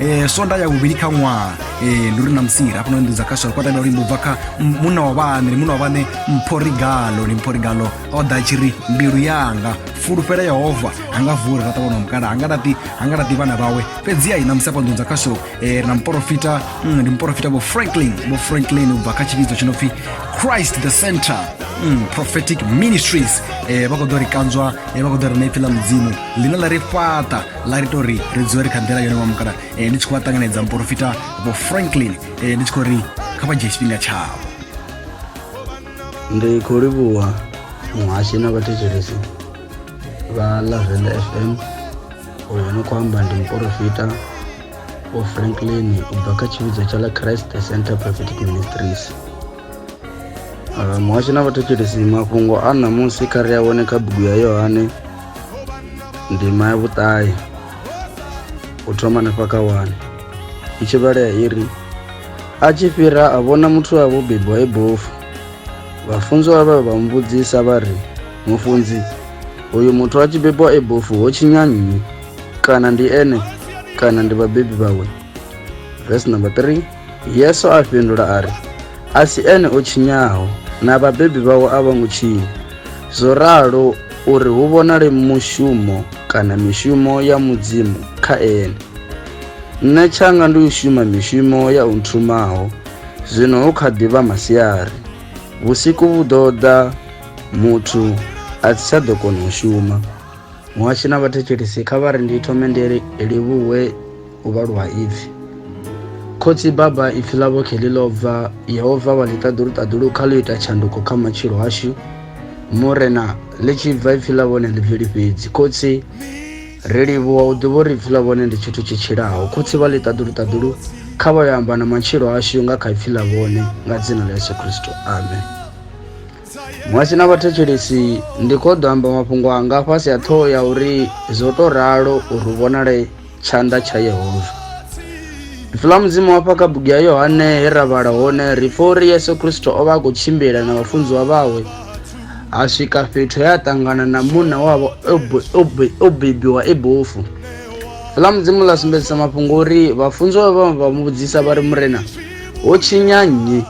e, sonda ya vhuvhili kha ṅwaha e, ndi uri na musira hafhano nḓu dza kaswala kwa tambela luimbo bva kha m- munna wa vhane ndi munna wa vhane mphorigalo ndi mphorigalo o ḓa a tshi ri mbilu yanga fulufhela yehova anga vula ra ṱavhona mukala anga laṱi anga laṱi vhana vhawe fhedzi ai na musi hafha nḓu dza kasho e, na mporofita mm, ndi mporofita vho franklin vho franklin ubva kha tshivhidzo tshi no pfi christ the center mm, prophetic ministries e, vha khou ḓo ri kanzwa e, vha khou ḓo ri na ipfi ḽa mudzimu ḽine ḽa ri fhaṱa ḽa ri tori ri dzule ri kha nḓila yone wa mukala eh, ndi tshi khou vha ṱanganedza muporofita vho franklin eh, ndi tshi khou ri kha vha dzhie tshifhinga tshavho ndi khou livhuwa muhashi na vhathetshelesi vha lavenda fm uyo no khou amba ndi muporofita vho franklin u bva kha tshivhidzo tsha ḽa christ center prophetic ministries muhashi na vhathetshelesi mafhungo a ṋamusi kha ri a wane kha bugu ya yohane ndima ya vhuṱahe u thoma nefha kha wane i tshi vhalea i ri a tshi fhira a vhona muthu wa vho bebwa e bofu vhafunziwa vha vha muvhudzisa vha ri mufunzi uyu muthu a tshi bebwa e bofu ho tshinya nnyi kana ndi ene kana ndi vhabebi vhawe vesi number 3 Yesu a fhindula a ri, A si ene o tshinyaho, na vhabebi vhawe a vho ngo tshinya. Zwo ralo uri hu vhonale mushumo kana mishumo ya Mudzimu kha ene. Nṋe tshanga ndi u shuma mishumo ya u nthumaho. Zwino hu kha ḓi vha masiari. Vhusiku vhu ḓo ḓa muthu a si tsha ḓo kona u shuma. Muhashi na vhathetshelesi kha vha ri ndi thome ndi livhuwe. u vhalwa ha ipfi khotsi baba ipfi ḽavho khe ḽi ḽo bva yehova vha ḽi ṱaḓuluṱaḓulu kha ḽo ita tshanduko kha matshilo ashu murena ḽi tshi bva ipfi ḽa vhone ḽi bveli fhedzi khotsi ri livhuwa u ḓivha uri ipfi ḽa vhone ndi tshithu tshi tshilaho khotsi vha ḽi ṱaḓuluṱaḓulu kha vha yo amba na matshilo ashu nga kha ipfi ḽa vhone nga dzina ḽa yesu kristo amen muhasi na vhathetshelesi ndi khou ḓo amba mafhungo anga fhasi ha ṱhoho ya uri zwo tou ralo uri vhonale Tshanḓa tsha Yehova. Ri fula mudzimu wa fha kha bugu ya Yohane he ra vhala hone ri pfa uri Yesu Kristo o vha a khou tshimbila na vhafunziwa vhawe a swika fhethu he a ṱangana na munna wavho o bebiwa e bofu. Fula mudzimu ḽa sumbedzisa mafhungo uri vhafunziwa vha vha mu vhudzisa vha ri murena ho tshinya nnyi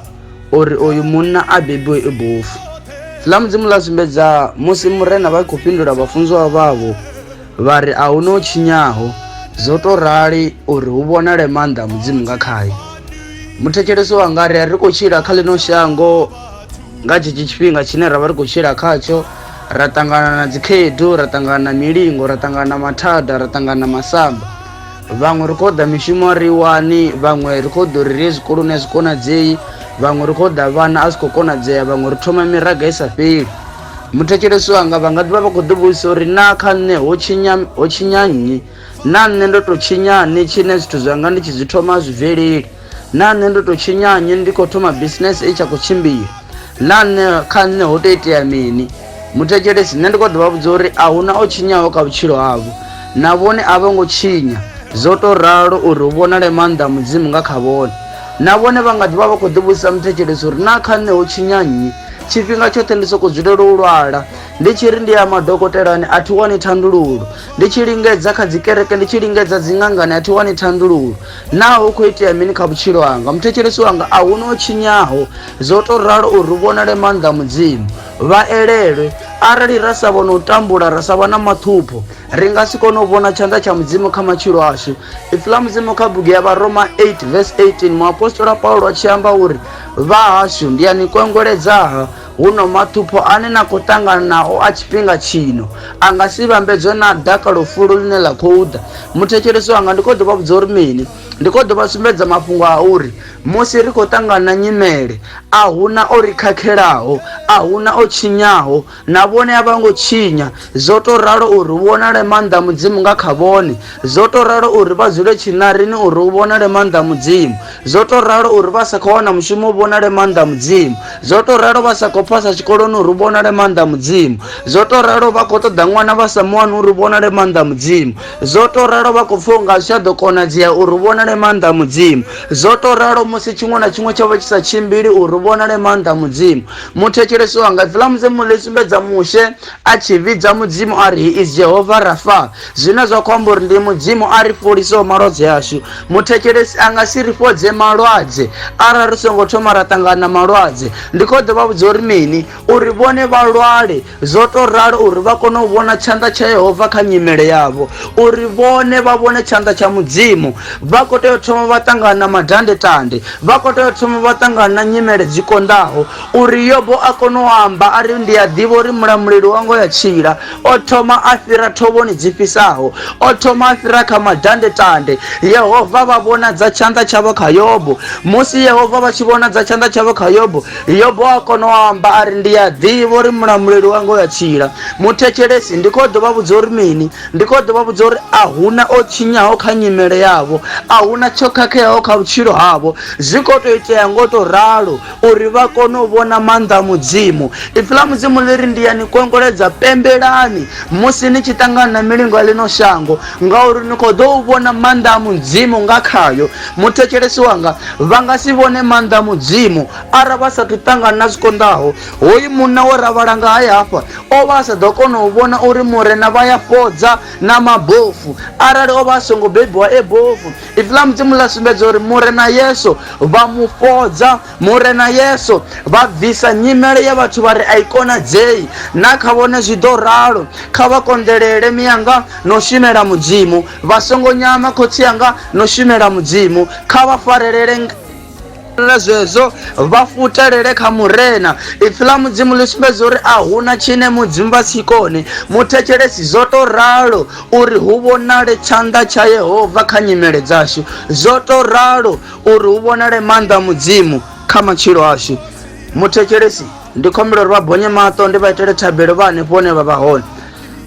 uri oyu munna a bebiwe e bofu. Fula mudzimu ḽa sumbedza musi murena vha khou fhindula vhafunziwa vhavho Vha ri, A hu na o tshinyaho. Zwo tou rali uri hu vhonale maanḓa a Mudzimu nga khae. Muthetshelesi wanga a ri, Ri khou tshila kha ḽino shango nga tshetsho tshifhinga tshine ra vha ri khou tshila khatsho, ra ṱangana na dzikhaedu, ra ṱangana na milingo, ra ṱangana na mathada, ra ṱangana na masamba. Vhaṅwe ri khou ḓa mishumo a ri wani, vhaṅwe ri khou ḓa uri ri ye zwikoloni a zwi konadzei, vhaṅwe ri khou ḓa vhana a zwi khou konadzea, vhaṅwe ri thoma miraga i sa fheli. Muthetshelesi wanga vha nga ḓivha vha khou ḓivhudzisa uri naa kha nṋe ho tshinya ho tshinya nnyi naa nṋe ndo tou tshinyani tshine zwithu zwanga ndi tshi zwi thoma zwi bveleli naa nṋe ndo tou tshinyanye ndi khou thoma bisinese i tsha khou tshimbila naa nṋe kha nṋe ho tou itea mini muthetshelesi nṋe ndi khou ḓivha vhudza uri a huna o tshinyaho kha vhutshilo havho na vhone a vho ngo tshinya zwo tou ralo uri hu vhonale maanḓa mudzimu nga kha vhone na vhone vha nga ḓivha vha khou ḓivhudzisa muthetshelesi uri naa kha nṋe ho tshinya nnyi Tshifhinga tshoṱhe ndi sokou dzulela u lwala. Ndi tshi ri ndi ya madokotelani a thi wani thandululo. Ndi tshi lingedza kha dzi kereke, ndi tshi lingedza dzi ṅangani a thi wani thandululo. Naa hu khou itea mini kha vhutshilo hanga? Muthetshelesi wanga a hu na o tshinyaho. Zwo tou ralo uri hu vhonale maanḓa a Mudzimu. Vha elelwe. Arali ra sa vhona u tambula, ra sa vha na maṱhupho, ri nga si kone u vhona tshanḓa tsha Mudzimu kha matshilo ashu. Ipfi ḽa Mudzimu kha bugu ya Vharoma 8 vesi 18, muapostola Paulo a tshi amba uri Vhahashu, ndi a ni kwengweledzaha, huno maṱhupho ane na khou ṱangana nao a tshifhinga tshino a nga si vhambedzwe na dakalo fulo ḽine ḽa khou ḓa. Muthetshelesi wanga, ndi khou ḓo vha vhudza uri mini? Ndi khou ḓo vha sumbedza mafhungo a uri musi ri khou ṱangana na nyimele, a hu na o ri khakhelaho, a hu na o tshinyaho, Na vhone a vho ngo tshinya, zwo tou ralo uri hu vhonale maanḓa a Mudzimu nga kha vhone, zwo tou ralo uri vha dzule tshiṋarini uri hu vhonale maanḓa a Mudzimu, zwo tou ralo uri vha sa khou wana mushumo hu vhonale maanḓa a Mudzimu, zwo tou ralo vha sa khou phasa tshikoloni uri hu vhonale maanḓa a Mudzimu, zwo tou ralo vha khou ṱoḓa ṅwana vha sa mu wani uri hu vhonale maanḓa a Mudzimu, zwo tou ralo vha khou pfa u nga a zwi tsha ḓo konadzea uri hu vhonale maanḓa a Mudzimu, zwo tou ralo musi tshiṅwe na tshiṅwe tsho vha tshi sa tshimbili uri hu vhonale maanḓa a Mudzimu, muthetshelesi wanga dzula musi muḽi sumbedza mushe a tshi vhidza mudzimu a ri he is jehova rafa zwine zwa khou amba uri ndi mudzimu a ri fholisaho malwadze ashu muthetshelesi a nga si ri fhodze malwadze arali ri songo thoma ra ṱangana na malwadze ndi khou ḓo vha vhudza uri mini uri vhone vha lwale Zwo tou ralo uri vha kone u vhona tshanḓa tsha Yehova kha nyimele yavho. Uri vhone vha vhone tshanḓa tsha Mudzimu, vha khou tea u thoma vha ṱangana na madandetande. Vha khou tea u thoma vha ṱangana na nyimele dzi konḓaho. Uri Yobo a kone u amba a ri, Ndi a ḓivha uri Mulamuleli wanga u a tshila. O thoma a fhira thovhoni dzi fhisaho. O thoma a fhira kha madandetande. Yehova vha vhonadza tshanḓa tshavho kha Yobo. Musi Yehova vha tshi vhonadza tshanḓa tshavho kha Yobo, yobo a kona u amba a ri ndi a ḓivha uri mulamuleli wanga u ya tshila muthetshelesi ndi khou ḓo vha vhudza uri mini ndi khou ḓo vha vhudza uri a huna o tshinyaho kha nyimele yavho a huna tsho khakheaho kha vhutshilo havho zwi khou tou itea ngo tou ralo uri vha kone u vhona maanḓa a mudzimu ipfi ḽa mudzimu ḽi ri ndi ya ni kongoledza pembelani musi ni tshi ṱangana na milingo ya ḽino shango Ngauri ni khou ḓo u vhona maanḓa a Mudzimu nga khayo. Muthetshelesi wanga, vha nga si vhone maanḓa a Mudzimu arali vha sa athu ṱangana na zwi konḓaho. Hoyu munna we ra vhala ngae hafha, o vha a sa ḓo kona u vhona uri Murena vha ya fhodza na mabofu arali o vha a songo bebiwa e bofu. Ipfi ḽa Mudzimu ḽa sumbedza uri Murena Yesu vha mu fhodza Murena Yesu vha bvisa nyimele ya vhathu vha ri a i konadzei, na kha vhone zwi ḓo ralo. Kha vha konḓelele mianga na u shumela Mudzimu, vha songo nyama khotsi anga na u shumela Mudzimu. Kha vha farelele zwezwo, vha futelele kha Murena. Ipfi ḽa Mudzimu ḽi sumbedza uri a hu na tshine Mudzimu vha si kone. Muthetshelesi zwo tou ralo uri hu vhonale tshanḓa tsha Yehova kha nyimele dzashu. Zwo tou ralo uri hu vhonale maanḓa a mudzimu kha matshilo ashu muthetshelesi ndi khombela uri vha bonye maṱo ndi vha itele thabelo vha hanefho hone vha vha hone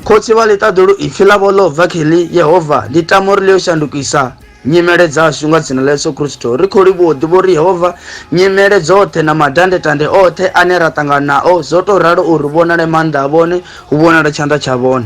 khotsi vha ḽiṱaḓulu ipfi ḽavho ḽo bva kheḽi yehova ndi tama uri ḽi yo shandukisa nyimele dzashu nga dzina ḽa yesu kristo ri khou livhuwa u ḓivha uri yehova nyimele dzoṱhe na madandetande oṱhe ane ra ṱangana nao zwo tou ralo uri vhonale maanḓa a vhone hu vhonale tshanḓa tsha vhone